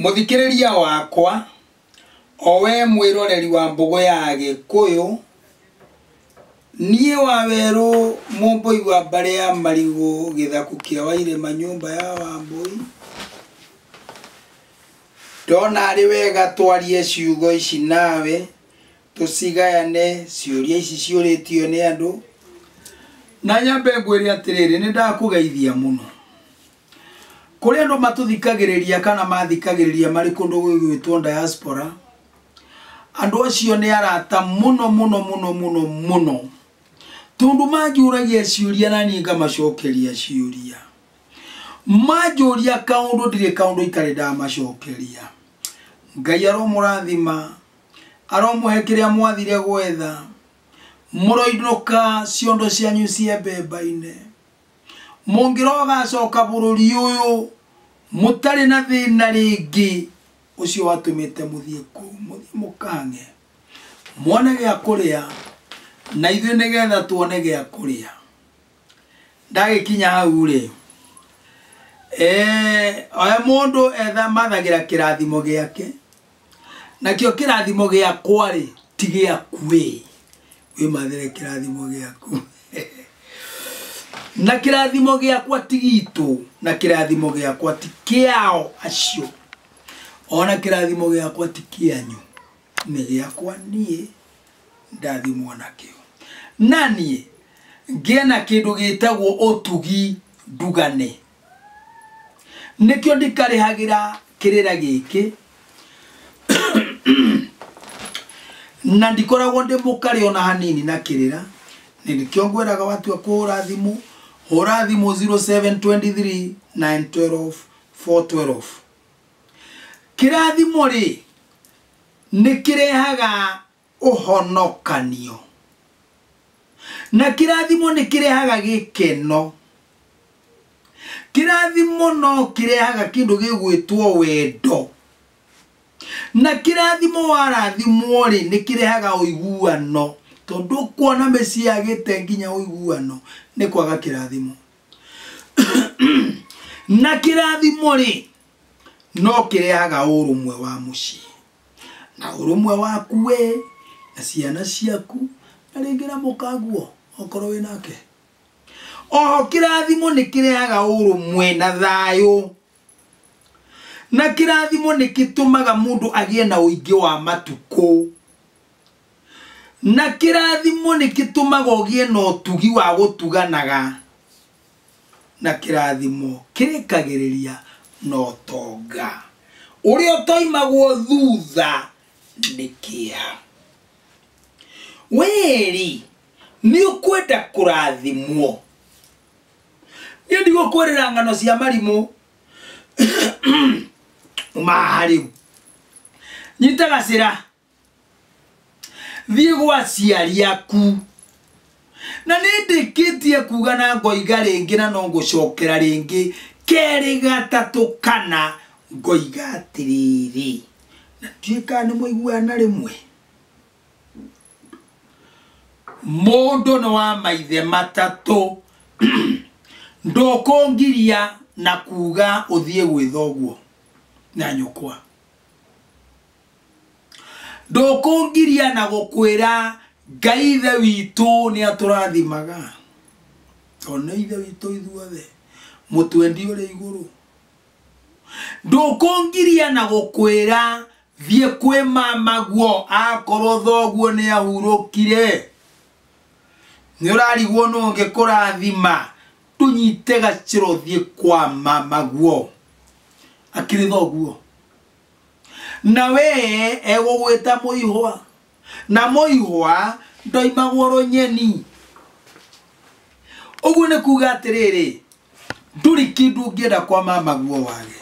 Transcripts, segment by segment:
Mũthikĩrĩria wakwa, o wee mwĩroreri wa Mbũgũ ya Agĩkũyũ, niĩ Wawerũ Mũmbũi wa Mbarĩ ya Marigũ Gĩthaku kĩa Wairĩma Nyũmba ya Wambũi, ndona arĩ wega twarie ciugo ici nawe, tũcigayane ciũria ici ciũrĩtio nĩ andũ. Na nyambe ngwĩre atĩrĩrĩ, nĩndakũgeithia mũno. Kũrĩ andũ matũthikagĩrĩria kana mathikagĩrĩria marĩ kũndũ gwĩgwĩtwo diaspora, andũ acio nĩ arata mũno mũno mũno mũno mũno tondũ manjũragia ciũria na niĩ ngamacokeria ciũria. Manjũria kaũndũ ndirĩ kaũndũ itarĩ ndamacokeria. Ngai aromũrathima, aromũhe kĩrĩa mwathire gwetha, mũroinũka ciondo cianyu ciembe mbaine. Mũngĩrogacoka bũrũri ũyũ mũtarĩ na thĩna rĩngĩ, ũcio watũmĩte mũthiĩ kũu, mũthiĩ mũkang'e, mone gĩa kũrĩa, na ithuĩ nĩgetha tuone gĩa kũrĩa. Ndagĩkinya hau-rĩ, eh, we mũndũ etha mathagĩra kĩrathimo gĩake. nakĩo kĩrathimo gĩakwa-rĩ ti gĩaku-ĩ wĩmathĩre kĩrathimo gĩaku na kĩrathimo gĩakwa ti gitũ na kĩrathimo gĩakwa ti kĩao acio ona kĩrathimo gĩakwa ti kĩanyu nĩ gĩakwa niĩ ndathimwo nakĩo na niĩ ngĩe na kĩndũ gĩtagwo ũtugi ndugane Nĩkĩo ndikarĩhagĩra kĩrĩra gĩkĩ, na ndikoragwo ndĩ mũkarĩ o na hanini na kĩrĩra. Nĩkĩo ngwĩraga watua kũhũra thimũ, hũra thimũ 0723 912 412. Kĩrathimo-rĩ, nĩkĩrehaga ũhonokanio. Na kĩrathimo nĩ kĩrehaga gĩkeno. Kĩrathimo no kĩrehaga kĩndũ gĩgwĩtwo wendo. Na kĩrathimo warathimwo rĩ nĩ kĩrehaga ũiguano tondũ ũkuona mĩciĩ yagĩte nginya ũiguano nĩ kwaga kĩrathimo. Na kĩrathimo rĩ no kĩrehaga ũrũmwe wa mũciĩ. na ũrũmwe waku wĩ na ciana ciaku na rĩngĩ na mũkaguo okorwo wĩ nake oho kĩrathimo nĩ kĩrehaga ũrũmwe na thayũ na kĩrathimo nĩ gĩtũmaga mũndũ agĩe na ũingĩ wa matukũ na kĩrathimo nĩ gĩtũmaga ũgĩe na ũtugi wa gũtuganaga Na kĩrathimo kĩrĩkagĩrĩria na ũtonga, ũrĩa ũtoimagwo thutha nĩ kĩeha. Wee-rĩ, nĩũkwenda kũrathimwo? Niĩ ndigũkwĩrĩra ng'ano cia marimũ ma rĩu. Nyita gacĩra thiĩ gwa aciari aku na nĩ ndĩkĩtie kuga na ngoiga rĩngĩ na no ngũcokera rĩngĩ kerĩ gatatũ kana ngoiga atĩrĩrĩ na ndiũĩ kana nĩ mũiguana rĩmwe mũndũ nĩ wa maithe matatũ ndũkũngiria na kuga ũthiĩ gwĩtha ũguo na nyũkwa ndũkũngiria na gũkwĩra ngai ithe witũ nĩ atũrathimaga tondũ nĩ ithe witũ ithuothe mũtwendi ũrĩ igũrũ ndũkũngiria na gũkwĩra thiĩ kwĩ mamaguo akorwo thoguo nĩ ahurũkire nĩ ũrarigwo nũ ũngĩkũrathima tũnyite gacĩro thiĩ kwa mamaguo akĩrĩ thoguo na we egũgwĩta mũihwa na mũihwa ndoimagwo rũnyeni ũguo nĩ kuga atĩrĩrĩ nduri kindu ngĩenda kwa mamaguo wage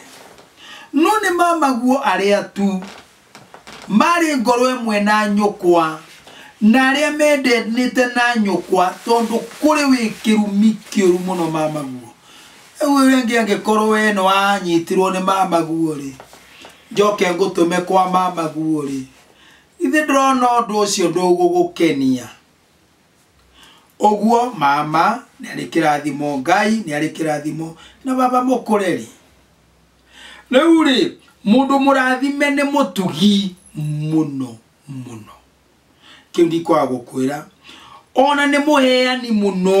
no nĩ mamaguo arĩa tu marĩ ngoro ĩmwe na nyũkwa na arĩa mendenĩte na nyũkwa tondũ kũrĩ wĩ kĩrumi kĩũru mũno mamaguo Rĩu ũyũ rĩngĩ angĩkorwo we nĩ wanyitirwo nĩ mamaguo-rĩ, njoke ngũtũme kwa mamaguo-rĩ, githĩ ndĩrona ũndũ ũcio ndũgũgũkenia? Ũguo mama nĩ arĩ kĩrathimo, Ngai nĩ arĩ kĩrathimo na baba mũkũre-rĩ. Rĩu-rĩ, mũndũ mũrathime nĩ mũtugi mũno mũno. Kĩu ndikwaga gũkwĩra. Ona nĩ mũheani mũno.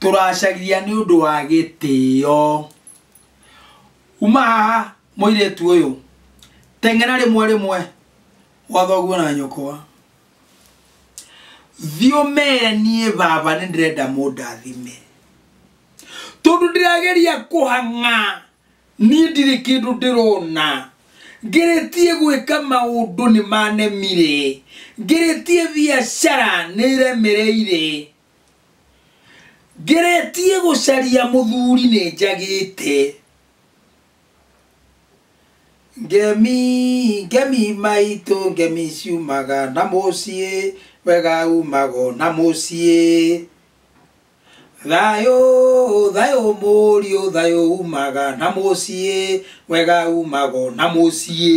tũracaria nĩ ũndũ wa gĩtĩo uma haha mũirĩtu ũyũ teng'era rĩmwe rĩmwe gwa thoguo na nyũkwa thiĩ ũmere niĩ baba nĩ ndĩrenda mũndathime tondũ ndĩrageria kũhang'a niĩ ndirĩ kĩndũ ndĩrona ngeretie gwĩka maũndũ nĩ manemire ngeretie biacara nĩ iremereire ngeretie gũcaria mũthuri nĩ njagĩte ngemi ngemi maitũ ngemi ciumaga na mũciĩ wega umago na mũciĩ thayũ thayũ mũriũ thayũ umaga na mũciĩ wega umago na mũciĩ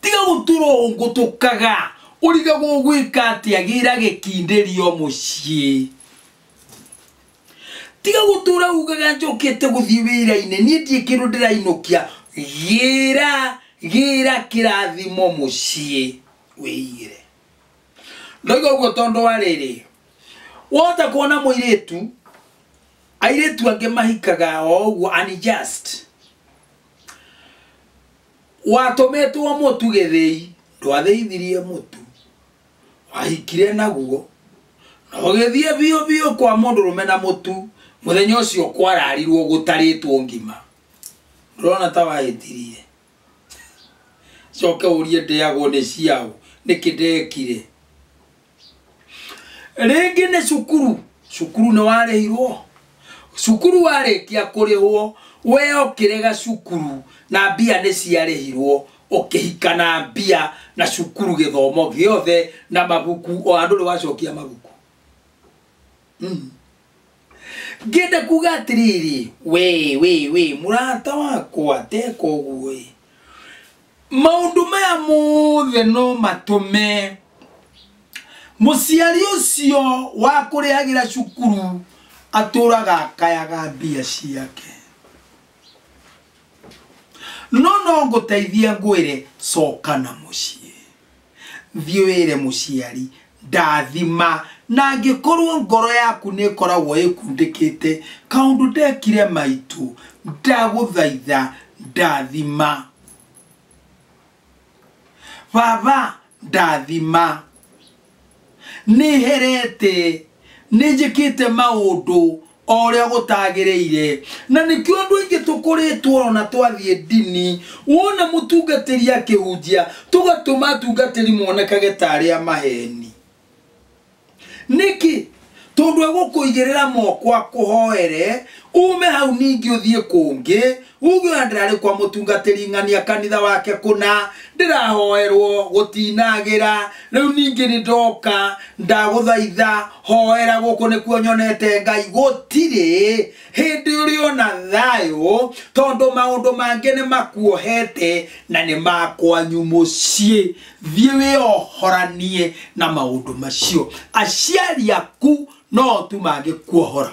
tiga gũtũrũngũtũkaga ũrige gũgwĩka atĩ agĩra gĩkindĩrio mũciĩ tiga gũtũra ugaga njokete gũthiĩ wĩra-inĩ niĩ ndiĩ kĩndũ ndĩrainũkia gĩra gĩra kĩrathimo mũciĩ wĩigĩre ndoiga ũguo tondũ wa rĩrĩ wota kuona mũirĩtu airĩtu angĩ mahikaga o ũguo unjust Watũmĩtwo mũtu gĩthĩi, ndwathĩithirie mũtu, wahikire naguo, na ũgĩthiĩ biũ biũ kwa mũndũrũme na mũtu, mũthenya ũcio kwararirwo gũtarĩtwo ngima. Ndũrona ta wahĩtirie? Coke ũrie ndĩagwo nĩ ciaũ, nĩkĩ ndekire? rĩngĩ nĩ cukuru cukuru nĩ warĩhirwo cukuru warĩkia kũrĩhwo we okĩre gacukuru na mbia nĩ ciarĩhirwo ũkĩhika na mbia na cukuru gĩthomo gĩothe na mabuku o handũ nĩ wacokia mabuku mm. Ngĩenda kuuga atĩrĩrĩ, we we we mũrata wakwa teka ũguo ĩ. Maũndũ maya mothe no matũme mũciari ũcio wa kũrĩhagĩra cukuru atũraga akayaga mbia ciake. No no ngũteithie ngwĩre coka na mũciĩ. Thiĩ wĩre mũciari, Ndathima. Na angĩkorũo ngoro yaku nĩ ĩkoragwo ĩkundĩkĩte kaũndũ ndekire maitũ, ndagũthaitha, ndathima. Baba, ndathima. Nĩ herete. Nĩ njĩkĩte maũndũ. o ũrĩa gũtagĩrĩire na nĩkĩo andũ aingĩ tũkũrĩtwo ona twathiĩ ndini wona mũtungatĩri akĩhunjia tũgatũma atungatĩri monekage ta arĩa maheni nĩkĩ tondũ egũkũigĩrĩra moko akũhoere ume hau ningĩ ũthiĩ kũngĩ Huthura ndĩrarĩ kwa mũtungatĩri ng'ania kanitha wake kũna ndĩrahoerwo gũtinagĩra rĩu ningĩ nĩ ndoka ndagũthaitha hoera gũkũ nĩkuo nyonete ngai gũtirĩ hĩndĩ ũrĩ ona thayũ tondũ maũndũ mangĩ nĩ makuohete na nĩ makwanyu mũciĩ thiĩ wĩohoranie na maũndũ macio aciari aku no tu mangĩkuohora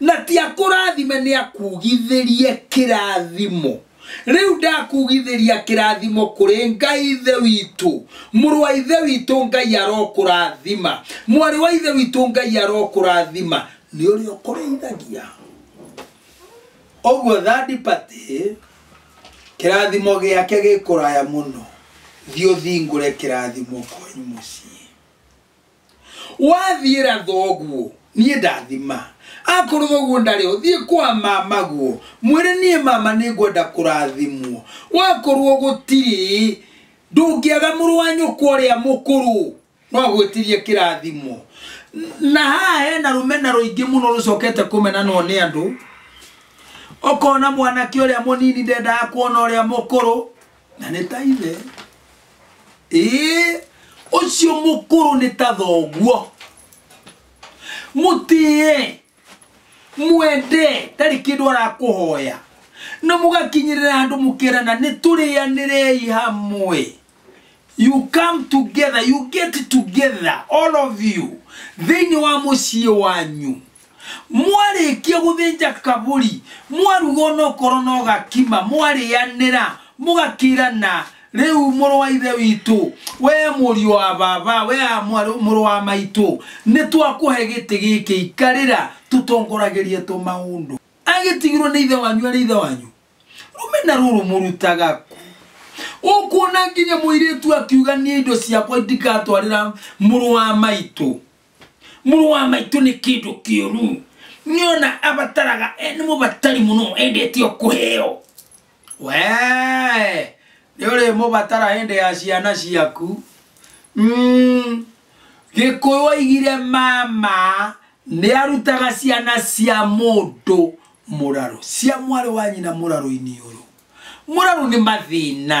na ti akũrathime nĩ akugithĩrie kĩrathimo rĩu ndakugithĩria kĩrathimo kũrĩ ngai ithe witũ mũrũ wa ithe witũ ngai arokũrathima mwarĩ wa ithe witũ ngai arokũrathima nĩ ũrĩa ũkũrĩithagia ũguo thadipatĩ kĩrathimo gĩake gĩkũraya mũno thiĩ ũthingũre kĩrathimo kwanyu mũciĩ wathiĩra thoguo niĩ ndathima akorwo thoguo ndarĩ ho thiĩ kwa mama guo mwĩre niĩ mama nĩ ngwenda kũrathimwo wakorwo gũtirĩ ndũngĩaga mũrũ wa nyũkwa ũrĩa mũkũrũ no agwĩtirie kĩrathimo na haha hena rũmena rũingĩ mũno rũcokete kũmenanwo nĩ andũ ũkona mwanake ũrĩa mũnini ndendaga kuona ũrĩa mũkũrũ na nĩ ta ithe ĩĩ ũcio mũkũrũ nĩ ta thoguo mũtĩe mwende tarĩ kĩndũ arakũhoya na mũgakinyĩrĩra andũ mũkerana nĩ tũrĩanĩrei hamwe you come together you get together all of you thĩinĩ wa mũciĩ wanyu mwarĩkia gũthĩnja kabũri mwaruga ona okorwo no gakima mwarĩanĩra mũgakĩrana rĩu mũrũ wa ithe witũ we mũriũ wa baba we a mwarũ- mũrũ wa maitũ nĩ twakũhe gĩtĩ gĩkĩ ikarĩra tũtongoragĩrie tũmaũndũ agĩtigirwo nĩ ithe wanyu arĩ ithe wanyu rũmena rũrũ mũrutaga kũ ũkuona nginya mũirĩtu akiuga niĩ indo ciakwa ndikatwarĩra mũrũ wa maitũ mũrũ wa maitũ nĩ kĩndũ kĩũru nĩona abataraga eh, nĩ mũbatari mũno endete o kũheo wee nĩ ũrĩ mũbatara hĩndĩ ya ciana ciaku Mm. gĩkũyũ aigire mama nĩ arutaga ciana cia mũndũ mũrarũ cia mwarĩ wa nyina mũrarũ-inĩ ũyũ mũrarũ nĩ mathĩna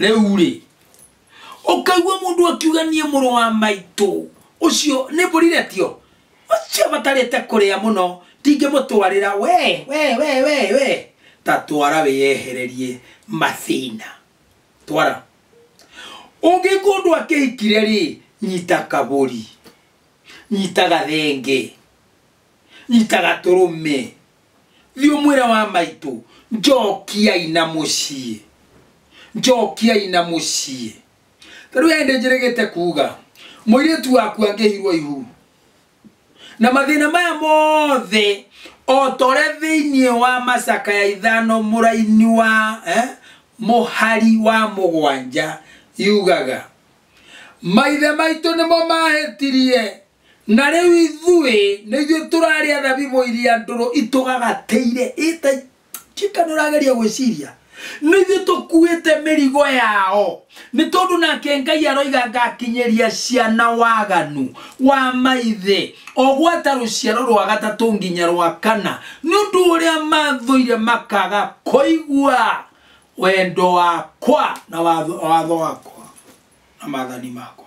rĩu rĩ ũkaigua mũndũ akiuga niĩ mũrũ wa maitũ ũcio nĩ mbũrire tio ũcio batarĩte kũrĩa mũno ndingĩmũtwarĩra we we we we we ta twara wĩyehererie mathĩna twara ũngĩ kũndũ akĩhikire rĩ nyita kabũri nyita gathenge Nĩtagatũrũme. Thiĩ ũmwĩre wa maitũ, Njokiai na mũciĩ. Njokiai na mũciĩ. Ta rĩu he nĩnjĩrĩgĩte kuga, mũirĩtu waku angĩhirwo ihu, na mathĩna maya mothe, o ta ũrĩa thĩinĩ wa macakaya ithano mũraini wa eh, mũhari wa mũgwanja yugaga, maithe maitũ nĩmo mahĩtirie, Na rĩu ithuĩ nĩ ithuĩ tũrarĩa thabibũ iria ndũrũ itũgagateire ĩtai Chicken ũrageria gwĩciria nĩ ithuĩ tũkuĩte mĩrigo yao nĩ tondũ nake Ngai aroiga ngakinyĩria ciana waganu wa maithe o gwata rũciaro rwa gatatũ nginya rwa kana nĩ ũndũ ũrĩa mathũire makaga kũigua wendo wakwa na watho wakwa na mathani makwa.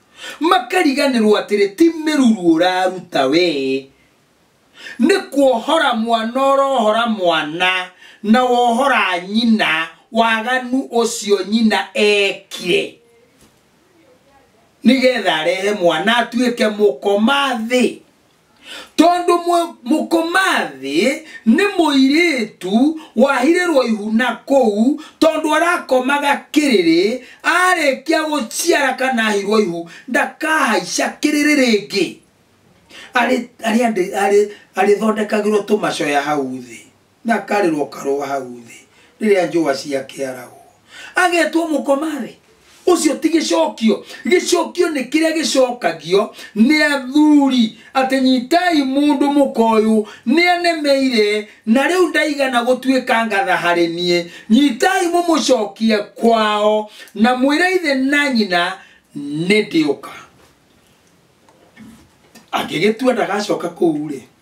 makariganĩrwo atĩrĩ ti mĩruru ũraruta we nĩ kuohora mwana ũrohora mwana na wohora nyina waganu ũcio nyina ekire nĩgetha arehe mwana atuĩke mũkoma thĩ tondũ mũ- mũkomathĩ nĩ mũirĩtu wahirĩrwo ihuna kũu tondũ arakomaga kĩrĩrĩ arĩkia gũciara kana ahirwo ihu ndakahaica kĩrĩrĩ rĩngĩ Arĩ- arĩ- arĩ- arĩthondekagĩrwo tũmacoya hau thĩ Na akarĩrwo karũa hau thĩ rĩrĩa njũa ciakĩaragwo. Agetwo mũkomarĩ. Ũcio ti gĩcokio. Gĩcokio nĩ kĩrĩa gĩcokagio nĩ athuri atĩ nyitai mũndũ mũka ũyũ nĩ anemeire na rĩu ndaigana gũtuĩka ngatha harĩ niĩ. Nyitai mũmũcokie kwao na mwĩre ithe na nyina nĩ ndĩũka. Angĩgĩtua ndagacoka kũu-rĩ.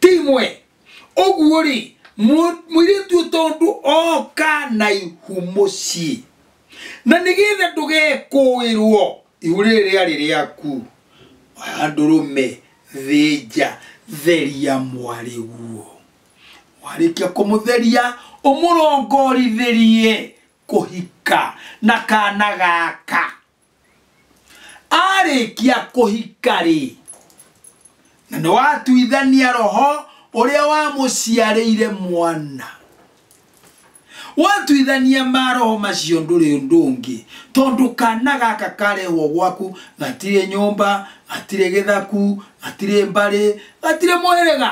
timwe ũguo rĩ mũ- mũirĩtu ũyũ tondũ oka na ihu mũciĩ na nĩgetha ndũgekũĩrwo ihu rĩrĩ rĩarĩ rĩaku oya ndũrũme thĩnja theria mwarĩ guo warĩkia kũmũtheria ũmũrongorithĩrie kũhika na kana gaka arĩkia kũhika-rĩ na nĩ watuithania roho ũrĩa wamũciarĩire mwana watuithania maroho macio ndũrĩ ũndũ ũngĩ tondũ kana gaka karehwo gwaku gatirĩ nyũmba gatirĩ gĩthaku gatirĩ mbarĩ gatirĩ mũhĩrĩga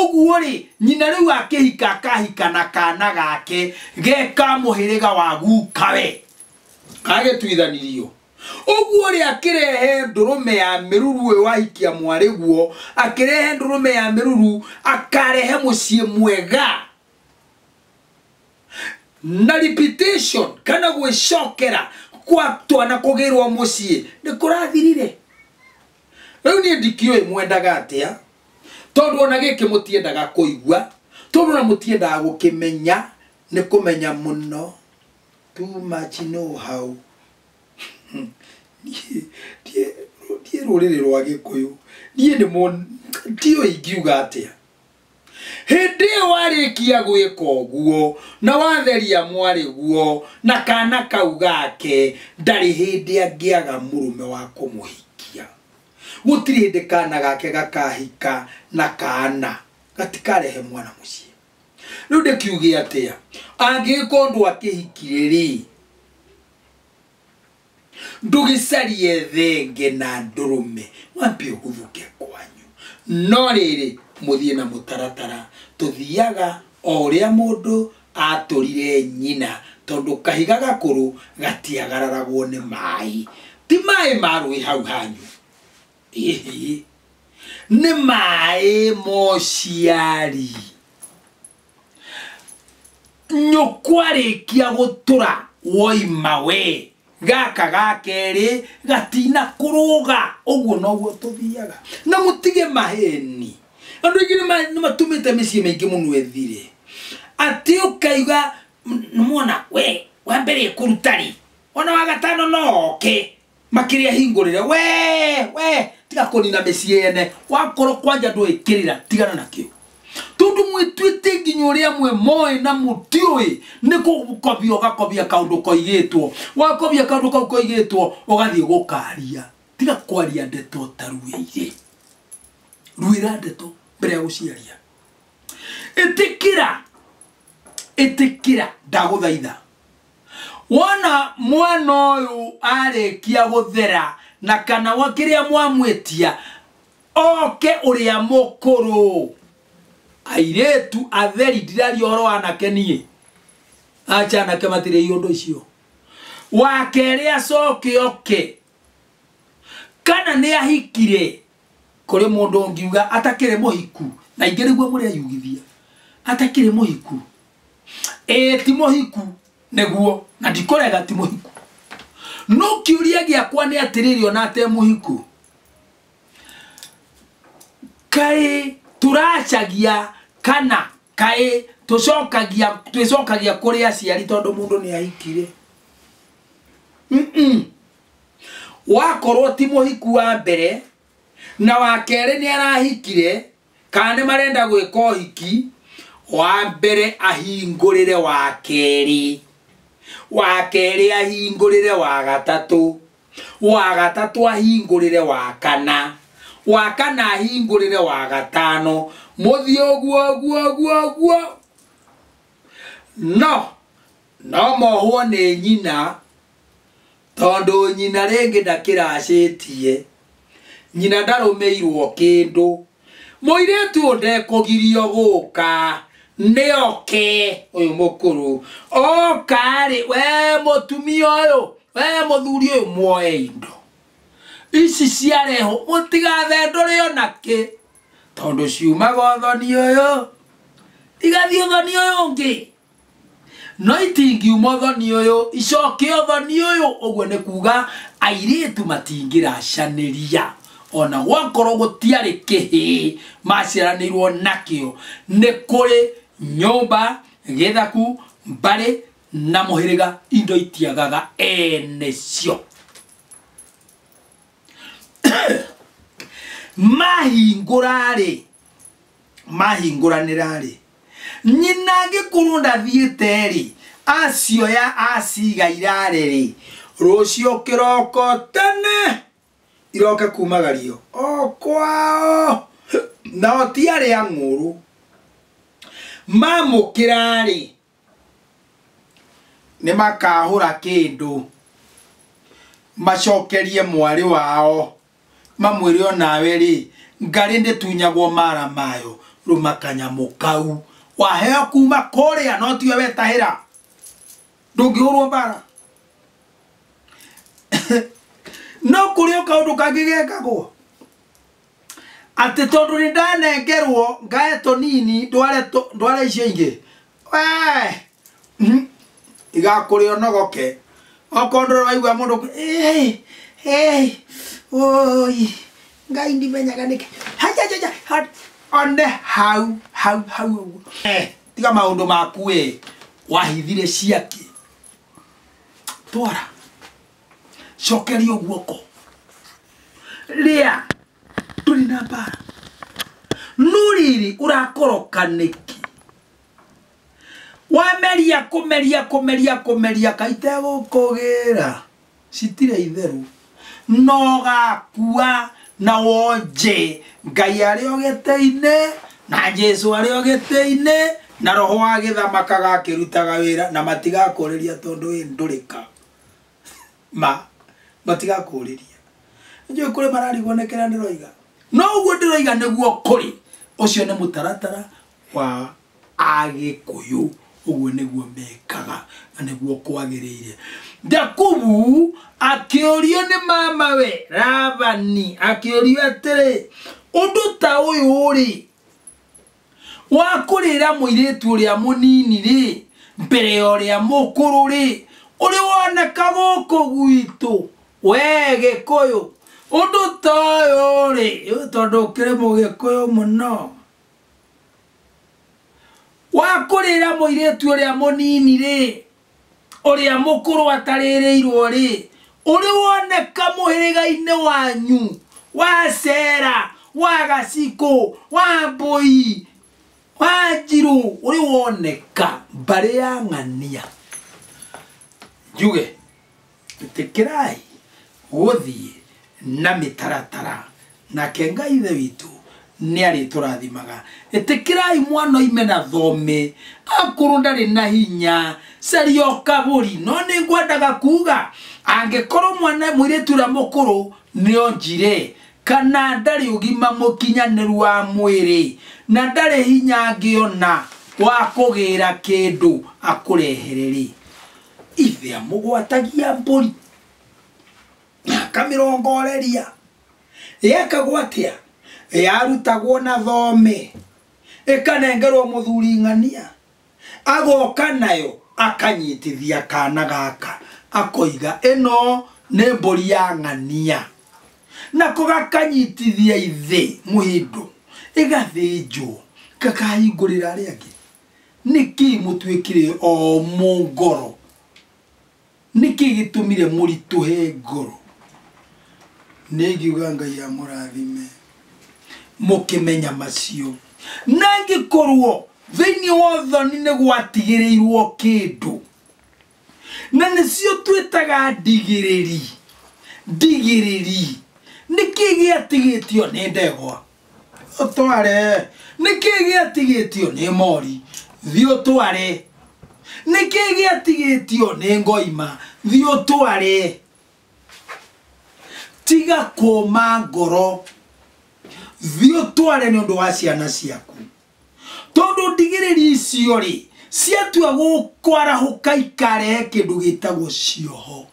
Ũguo-rĩ, nyina rĩu akĩhika akahika na kana gake ge ka mũhĩrĩga wa gukawe kagĩtuithanirio. Ũguo-rĩ, akĩrehe ndũrũme ya mĩruru ũyũ wahikia mwarĩguo, akĩrehe ndũrũme ya mĩruru akarehe mũciĩ mwega na repetition kana gwĩcokera kwa twana kũgĩrwo mũciĩ nĩ kũrathirire rĩu niĩ ndikĩũĩ mwendaga atĩa tondũ ona gĩkĩ mũtiendaga kũigua tondũ na mũtiendaga gũkĩmenya nĩ kũmenya mũno too much know how ndiĩ rũrĩrĩ rwa gĩkũyũ ndiĩ nĩ ndiũĩ ingiuga atĩa hĩndĩ ĩyo warĩkia gwĩka ũguo na watheria mwarĩguo na kana kau gake ndarĩ hĩndĩ angĩaga mũrũme wa kũmũhikia gũtirĩ hĩndĩ kana gake gakahika na kana gatikarehe mwana mũciĩ rĩu ndĩkiuge atĩa angĩgĩkorwo ndwakĩhikire rĩ ndũgĩcarie thenge na ndũrũme wambe ũguthũke kwanyu no rĩrĩ mũthiĩ na mũtaratara tũthiaga o ũrĩa mũndũ atũrire nyina tondũ kahiga gakũrũ gatiagararagwo nĩ maĩ ti maĩ ma rũĩ hau hanyu ĩhĩ nĩ maĩ mociari nyũkwarĩkia gũtũra woima we gaka ga kerĩ gatina kũrũga ũguo noguo tũthiaga na mũtige maheni andũ aingĩ nĩma- nĩmatũmĩte mĩciĩ mĩingĩ mũno ethire atĩ ũkaiga nĩmwona we wa mbere kũruta rĩ ona wa gatano no oke makĩrĩa hingũrĩre we we tiga kũnina mĩciĩ yene wakorwo kwanja ndũĩ kĩrĩra tigana nakĩo tondũ mwĩtuĩte nginya ũrĩa mwe moĩ na mũtiũĩ nĩ gũkobia ũgakobia kaũndũ koigĩtwo wakobia kaũndũ kau koigĩtwo ũgathiĩ gũkaria tiga kwaria ndeto ũtaruĩire ruĩra ndeto mbere ya gũciaria ĩtĩkĩra ĩtĩkĩra ndagũthaitha wona mwana ũyũ arĩkia gũthera na kana wa kĩrĩa mwamwĩtia oke ũrĩa mũkũrũ airĩtu atheri ndiraria ũhoro wa anake niĩ acha anake matirĩ iũndũ icio wa kerĩ acoke oke kana nĩ ahikire kũrĩ mũndũ ũngiuga atakĩrĩ mũhiku na ingĩ nĩguo mũreyugithia atakĩrĩ mũhiku ĩĩ ti mũhiku nĩguo na ndikũrega ti mũhiku no kĩũria gĩakwa nĩ atĩrĩrĩ ona te mũhiku kaĩ tũracagia kana kaĩ tũcokagia twĩcokagia kũrĩ aciari tondũ mũndũ nĩ ahikire Mm-mm. wakorwo ti mũhiku wa mbere na wa kerĩ nĩ arahikire kana nĩ marenda gwĩka ũhiki wa mbere ahingũrĩre wa kerĩ wa kerĩ ahingũrĩre wa gatatũ wa gatatũ ahingũrĩre wa kana wa kana ahingũrĩre wa gatano mũthiĩ ũguo ũguo ũguo ũguo no no mohwo nĩ nyina Tondũ nyina rĩngĩ ndakĩracĩtie. Nyina ndarũmĩirwo kĩndũ. Mũirĩtu ũyũ ndekũgirio gũka. Nĩ oke, ũyũ mũkũrũ. Oka-rĩ, we mũtumia ũyũ, we mũthuri ũyũ muoe indo. Ici ciarehwo, mũtigathendũre o na kĩ. Tondũ ciumaga ũthoni ũyũ, igathiĩ ũthoni ũyũ ũngĩ. no itingiuma ũthoni ũyũ icoke ũthoni ũyũ ũguo nĩ kuga airĩtu matingĩracanĩria ona gwakorwo gũtiarĩ kĩhĩ maciaranĩirwo nakĩo nĩ kũrĩ nyũmba gĩthaku mbarĩ na mũhĩrĩga indo itiagaga ene cio mahingũra-rĩ mahingũranĩra-rĩ Nyina angĩkorwo ndathiĩte-rĩ, acioya aciiga irare-rĩ, rũcio kĩroko tene iroke kumagario o kwao, nao ti arĩa ang'ũũrũ. Mamũkĩra-rĩ, nĩmakahũra kĩndũ macokerie mwarĩ wao. mamwĩre o nawe rĩ ngarĩ ndĩtunyagwo mara mayo rũma kanyamũ kau waheo kuma kũrĩa no tiwe wetahĩra ndũngĩhũrwo mbara no kũrĩ o kaũndũ kangĩ gekagwo atĩ tondũ nĩ ndanengerwo ngae tũnini ndware tũ- ndware icio ingĩ Wee! Mhm. igakũrĩa ũnogoke okorwo ndũrĩ waigua mũndũ kũ- "Ĩĩ, ĩĩ, ũi ngai ndimenyaga nĩkĩ Hajajaja, ha- one hau hau hau ũguo Eh, tiga maũndũ maku ĩ wahithire ciakĩ twara cokeria guoko rĩa tũrĩ na mbara no rĩrĩ ũrakoroka nĩkĩ wameria kũmeria kũmeria kũmeria kaitegũkũgĩra citirĩ itherũ nogakua na wonje ngai arĩ o gĩtĩ-inĩ na jesu arĩ o gĩtĩ-inĩ na roho wa gĩthamakaga akĩrutaga wĩra na matigakũrĩria tondũ wĩ ndũrĩka ma matigakũũrĩria njũĩ kũrĩ mararigwo nĩ kĩrĩa ndĩroiga no ũguo ndĩroiga nĩguo kũrĩ ũcio nĩ mũtaratara wa agĩkũyũ ũguo nĩguo mekaga na nĩguo kwagĩrĩire jakubu akĩũrio nĩ mamawe ravani akĩũrio atĩrĩ ũndũ ta ũyũ rĩ wa kũrĩra mũirĩtu ũrĩa mũnini-rĩ, mbere ya ũrĩa mũkũrũ-rĩ, ũrĩ woneka gũkũ gwitũ, wee Gĩkũyũ, ũndũ ta ũyũ-rĩ, rĩu tondũ ũkĩrĩ Mũgĩkũyũ mũno, wa kũrĩra mũirĩtu ũrĩa mũnini-rĩ, ũrĩa mũkũrũ atarĩrĩirwo rĩ ũrĩ woneka mũhĩrĩga-inĩ wanyu wa cera wa gacikũ wa mbũi wa njirũ ũrĩ woneka mbarĩ ya ng'ania njuge ĩtĩkĩrai gũthiĩ na mĩtaratara nake ngai ithe witũ nĩ arĩtũrathimaga ĩtĩkĩrai mwana oime na thome akorwo ndarĩ na hinya caria ũkabũri no nĩ ngwendaga kuga angĩkorwo mwana mũirĩtu ũrĩa mũkũrũ nĩ onjire kana ndarĩ ũgima mũkinyanĩru wa mwĩrĩ na ndarĩ hinya angĩona wa kũgĩra kĩndũ akũrehere rĩ Ithe amũgwatagia mbũri, na akamĩrongoreria. Yekagwo atĩa? Yarutagwo na thome, ĩkanengerwo mũthuri ng'ania, agoka nayo akanyitithia kana gaka, akoiga ĩno nĩ mbũri ya ng'ania. Nako gakanyitithia ithe mũhĩndo, ĩgathĩnjwo, gakahingũrĩra arĩa angĩ. Nĩkĩĩ mũtuĩkire omũ ngoro? Nĩkĩĩ gĩtũmire mũritũhe ngoro? Nĩngiuga Ngai amũrathime mũkĩmenya macio. Na angĩkorwo thĩinĩ wa ũthoni nĩ gwatigĩrĩirwo kĩndũ, na nĩcio twĩtaga ndigĩrĩri ndigĩrĩri nĩkĩ gĩatigĩtio nĩ ndegwa ũtware nĩkĩ gĩatigĩtio nĩ mori thiĩ ũtware nĩkĩ gĩatigĩtio nĩ ngoima thiĩ ũtware tiga kũma ngoro thiĩ ũtware nĩ ũndũ wa ciana ciaku Tondũ ndigĩrĩri icio-rĩ, ciatua kwarahũka ikarehe kĩndũ gĩtagwo cioho.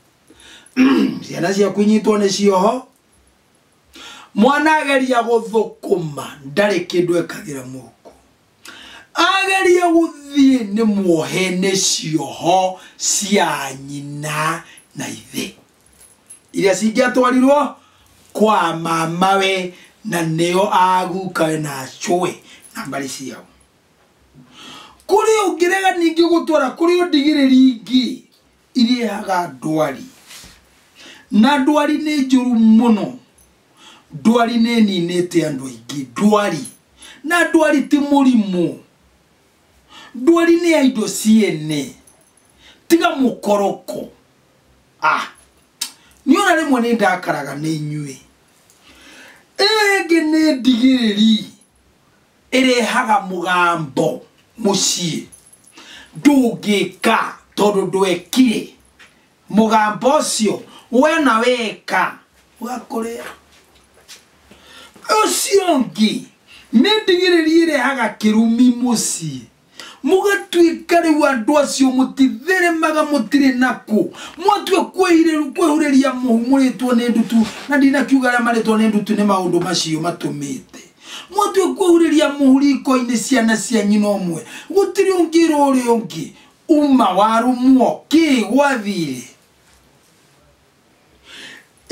Ciana ciaku inyitwo nĩ cioho, mwana ageria gũthũkũma ndarĩ kĩndũ ekagĩra mũhuko, ageria gũthiĩ nĩ muohe nĩ cioho cia nyina na ithe. iria cingĩatwarirwo kwa mamawe na nĩo agukawe na acũwe na mbarĩ ciao kũrĩ ũngĩrega ningĩ gũtwara kũrĩ ũndigĩrĩri ingĩ irĩaga ndwari na ndwari nĩ njũru mũno ndwari nĩ ninĩte andũ aingĩ ndwari na ndwari ti mũrimũ ndwari nĩ ya indo ciene tiga mũkoroko ah nĩ ona rĩmwe nĩ ndakaraga nĩ inyuĩ ĩyo ĩngĩ nĩ ndigĩrĩri ĩrehaga mũgambo mũciĩ ndũngĩka tondũ ndwekire mũgambo ũcio we na weka ũgakũrĩa ũcio ũngĩ nĩ ndigĩrĩri ĩrehaga kĩrumi mũciĩ mũgatuĩka rĩu andũ acio mũtitheremaga mũtirĩ nakũ mwatua kwĩhirĩru- kwĩhurĩria mũhu mũrĩtwo nĩ ndutu na ndinakiuga arĩa marĩtwo nĩ ndutu nĩ maũndũ macio matũmĩte mwatua kwĩhurĩria mũhu riko-inĩ ciana cia nyina ũmwe gũtirĩ ũngĩra ũrĩa ũngĩ uma warumwo kĩ gwathirĩ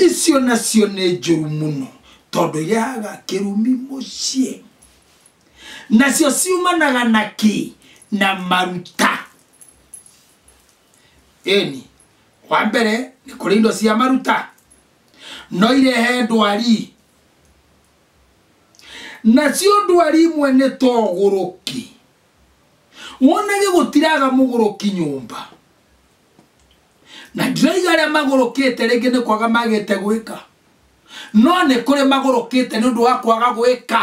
icio nacio nĩ njũru mũno tondũ yaga kĩrumi mũciĩ nacio ciumanaga na kĩ na maruta ĩni wa mbere nĩ kũrĩ indo cia maruta no irehe ndwari nacio ndwari imwe nĩ togũrũki wonage gũtiraga mũgũrũki nyũmba na ndiraiga arĩa magũrũkĩte rĩngĩ nĩ kwaga magĩte gwĩka no nĩ kũrĩ magũrũkĩte nĩ ũndũ wa kwaga gwĩka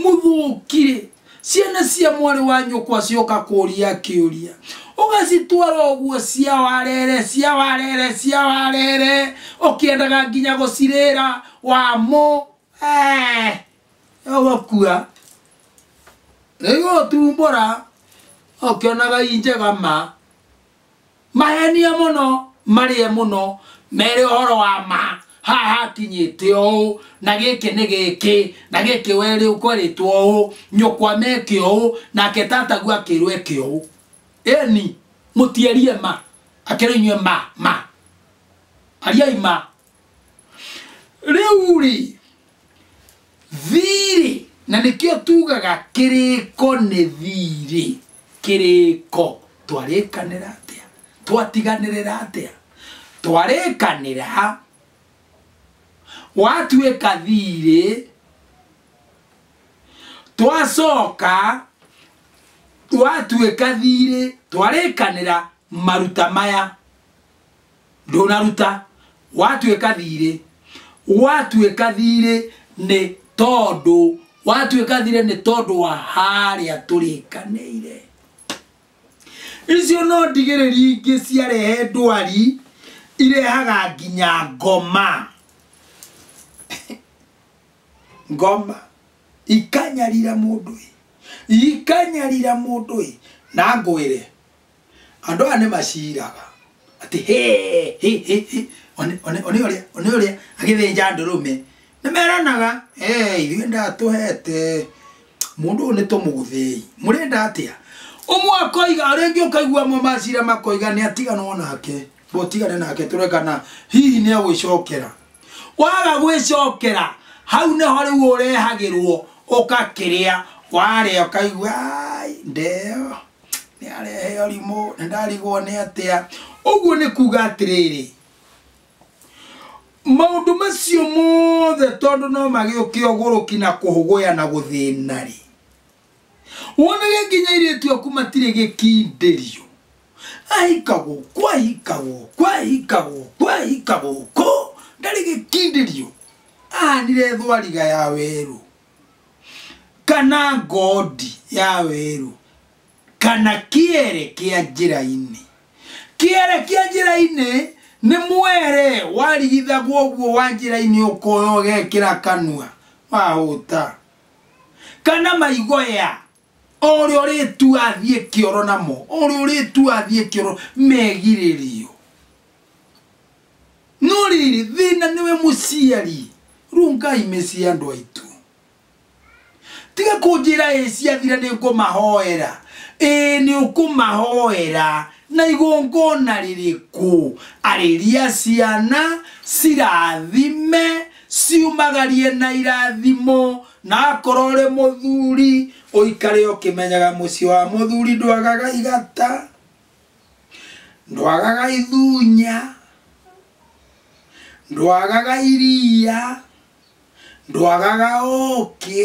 mũthũkirĩ ciana cia mwarĩ wa nyũkwa cioka kũria kĩũria ũgacitwara ũguo cia warere cia warere cia warere ũkĩendaga nginya gũcirĩra wamo eh, ũgakua nĩgũtumbũra ũkĩonaga injega ma Mahenie mũno, marĩe mũno, mere ũhoro wa ma, haha hakinyĩte ũũ, na gĩkĩ nĩ gĩkĩ, na gĩkĩ werĩ kwerĩtwo ũũ, nyũkwa meke ũũ, nake tataguo akĩrwo eke ũũ. Ĩni, mũtierie ma, akĩrwo inyuĩ ma, ma. Ariai ma. Rĩu-rĩ, thiiri na nĩkĩo tugaga kĩrĩko nĩ thiirĩ kĩrĩko twarĩkanĩra atĩa twatiganĩrĩra atĩa twarĩkanĩra watuĩka thiirĩ twacoka watuĩka thiirĩ twarĩkanĩra maruta maya ndũnaruta watuĩka thirĩ watuĩka thirĩ nĩ tondũ watuĩka thirĩ nĩ tondũ wa harĩa tũrĩkanĩire icio no ndigĩrĩri ingĩ ciarehe ndwari irehaga nginya ngoma ngoma ikanyarira mũndũ ĩ ikanyarira mũndũ ĩ na ngwĩre Andũ aya nĩ maciraga atĩ hĩ hĩ hĩ hĩ one- one one ũrĩa one ũrĩa agĩthĩnja ndũrũme nĩ meranaga "Eh, ithuĩ ndatũhete mũndũ ũyũ nĩ tũmũthĩi mũrenda atĩa ũmwe akoiga ũrĩa ũngĩ ũkaigua mo macira makoiga nĩ atiganwo nake ũtigane nake tũrekana hihi nĩ egwĩcokera waga gwĩcokera hau nĩho rĩu ũrehagĩrwo ũgakĩrĩa warĩa ũkaigua "Ai, ndeo nĩ arehe ũrimũ nĩ ndarigwo nĩ atĩa ũguo nĩ kuga atĩrĩrĩ maũndũ macio mothe tondũ no magĩũke ũgũrũki na kũhũgũya na gũthĩna rĩ wonage nginya airĩtu aku matirĩ gĩkindĩrio ahika gũkũ ahika gũkũ ahika gũkũ ahika gũkũ ndarĩ gĩkindĩrio ahanire thwariga ya werũ kana ngondi ya werũ kana kĩere kĩa njĩra-inĩ kĩere kĩa njĩra-inĩ nĩ mwere warigithagwo ũguo wa njĩra-inĩ ũkoya ũgekĩra kanua wahũta kana maigoya o ũrĩa ũrĩtu athiĩ kĩoro namo o ũrĩa ũrĩtu athiĩ kĩoro megirĩrio no rĩrĩ thĩna nĩwe mũciari rungai mĩciĩ andũ aitũ tiga kũnjĩra ĩ ciathira nĩ ngũmahoera ĩ nĩ ũkũmahoera na igongona rĩrĩkũ arĩria ciana cirathime ciumagarie na irathimo na akorwo ũrĩ mũthuri ũikare ũkĩmenyaga mũciĩ wa mũthuri ndwagaga igata ndwagaga ithunya ndwagaga iria ndwagaga ũkĩ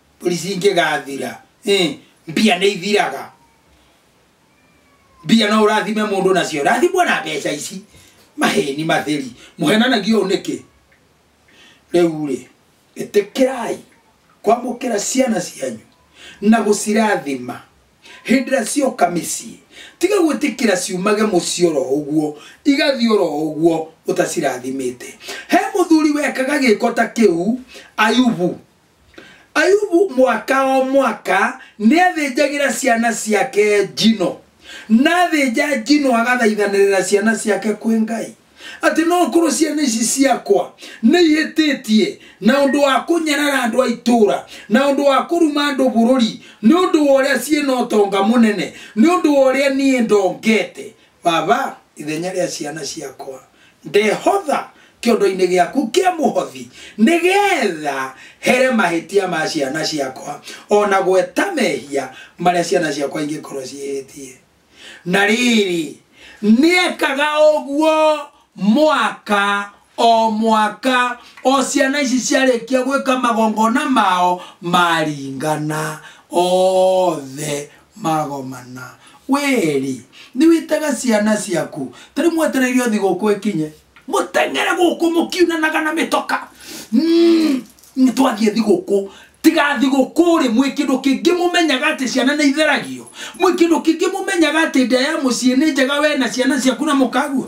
mbũri cingĩgathira ĩ, mbia nĩ ithiraga mbia no ũrathime mũndũ nacio rathimwo na mbeca ici maheni matheri mũhenanagia ũũ nĩkĩ rĩu rĩ ĩtĩkĩrai kwamũkĩra ciana cianyu na gũcirathima hĩndĩ ĩrĩa cioka mĩciĩ tiga gwĩtĩkĩra ciumage mũciĩ oro ũguo igathiĩ oro ũguo ũtacirathimĩte he mũthuri wekaga gĩko ta kĩu ayubu ayubu mwaka o mwaka nĩ athĩnjagĩra ciana ciake njino na athĩnja njino agathaithanĩrĩra ciana ciake kwĩ ngai atĩ no korwo ciana ici ciakwa nĩ ihĩtĩtie na ũndũ wa kũnyarara andũ a itũũra na ũndũ wa kũruma andũ bũrũri nĩ ũndũ wa ũrĩa ciĩ na ũtonga mũnene nĩ ũndũ wa ũrĩa niĩ ndongete Baba, ithenya rĩa ciana ciakwa, ndehotha kĩondo-inĩ gĩaku kĩa mũhothi, nĩgetha here mahĩtia ma ciana ciakwa, o na gweta mehia marĩa ciana ciakwa ingĩkorwo ciĩhĩtie. Na rĩrĩ, nĩekaga ũguo mwaka o mwaka o ciana ici ciarĩkia gwĩka magongona mao maringana othe magomana wĩrĩ nĩ wĩtaga ciana ciaku ta rĩu mwetereire ũthi gũkũ ĩkinye mũteng'ere gũkũ mũkiunanaga na mĩtoka Mm, nĩ twathiĩ thigũkũ tiga thigũkũ rĩ mwĩ kĩndũ kĩngĩ mũmenyaga atĩ ciana nĩ itheragio mwĩ kĩndũ kĩngĩ mũmenyaga atĩ nda ya mũciĩ nĩ njega we na ciana ciaku na mũkagua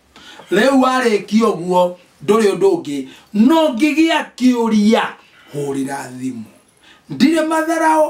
Rĩu warĩkia ũguo ndũrĩ ũndũ ũngĩ no ngĩgĩa kĩũria hũrĩra thimũ. Ndirĩ matharaũ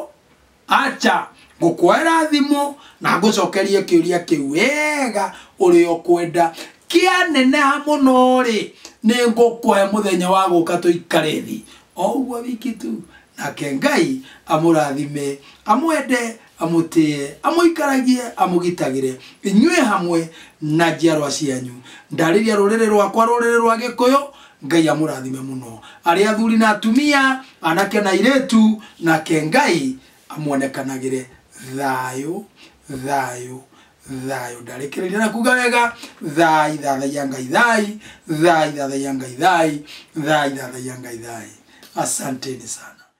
aca ngũkwoera thimũ na ngũcokerie kĩũria kĩu wega ũrĩa ũkwenda. Kĩaneneha mũno rĩ nĩ ngũkũhe mũthenya wa gũka tũikare thĩ. O ũguo wiki tu. Nake Ngai amũrathime, amwende amũtĩĩe, amũikaragie, amũgitagĩre, inyuĩ hamwe na njiarwa cianyu. Ndarĩria rũrĩrĩ rwakwa, rũrĩrĩ rwa Gĩkũyũ, Ngai amũrathime mũno. Arĩ athuri na atumia, anake na airĩtu, nake Ngai amuonekanagĩre. Thayũ, thayũ, thayũ. Ndarĩkĩrĩria na kuuga wega, thai, thathaiya Ngai thai, thai, thathaiya Ngai thai, thai, thathaiya Ngai thai. Asanteni sana.